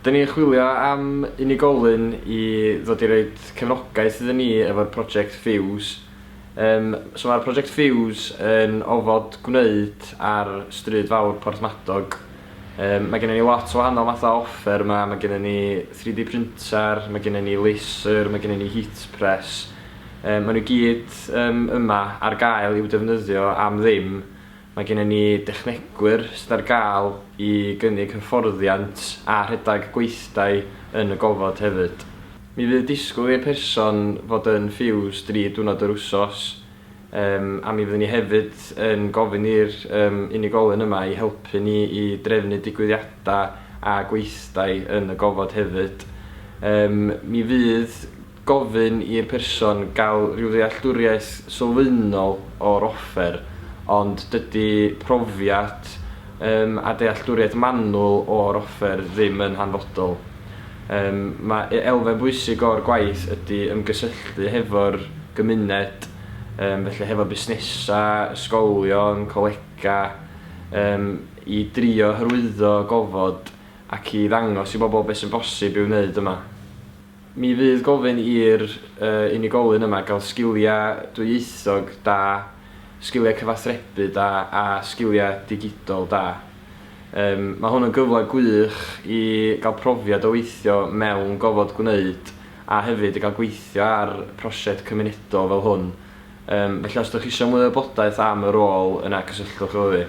Dyn ni'n chwilio am unigolyn i ddod i roid cefnogaeth iddyn ni efo'r project Fuse. Yym, so mae'r project Fuse yn ofod gwneud ar Stryd Fawr Porthmadog. Yym, mae gennym ni lot o wahanol mathau o offer yma, mae gennym ni 3D printer, mae gennym ni laser, mae gennym ni heat press. Yym, maen nhw i gyd yym, yma ar gael i'w defnyddio am ddim. Mae gennym ni dechnegwyr sydd ar gael i gynnig hyfforddiant a rhedeg gweithdai yn y gofod hefyd. Mi fydd disgwyl i'r person fod yn ffiws dri diwrnod yr wsos, yym, a mi fyddwn ni hefyd yn gofyn i'r yym unigolyn yma i helpu ni i drefnu digwyddiadau a gweithdai yn y gofod hefyd. Yym, mi fydd gofyn i'r person gael rhyw ddealltwriaeth sylfaenol o'r offer, ond dydy profiad yym a dealltwriaeth manwl o'r offer ddim yn hanfodol. Yym mae e- elfen bwysig o'r gwaith ydy ymgysylltu hefo'r gymuned, yym felly hefo busnesau, ysgolion, colegau, yym i drio hyrwyddo gofod ac i ddangos i bobl beth sy'n bosib i'w wneud yma. Mi fydd gofyn i'r unigolyn yma gael sgiliau dwyieithog da, sgiliau cyfathrebu da a sgiliau digidol da. Yym, mae hwn yn gyfle gwych i gael profiad o weithio mewn gofod gwneud a hefyd i gael gweithio ar prosiect cymunedol fel hwn. Yym, felly os ydych chi eisiau mwy o wybodaeth am y rôl yna cysylltwch efo fi.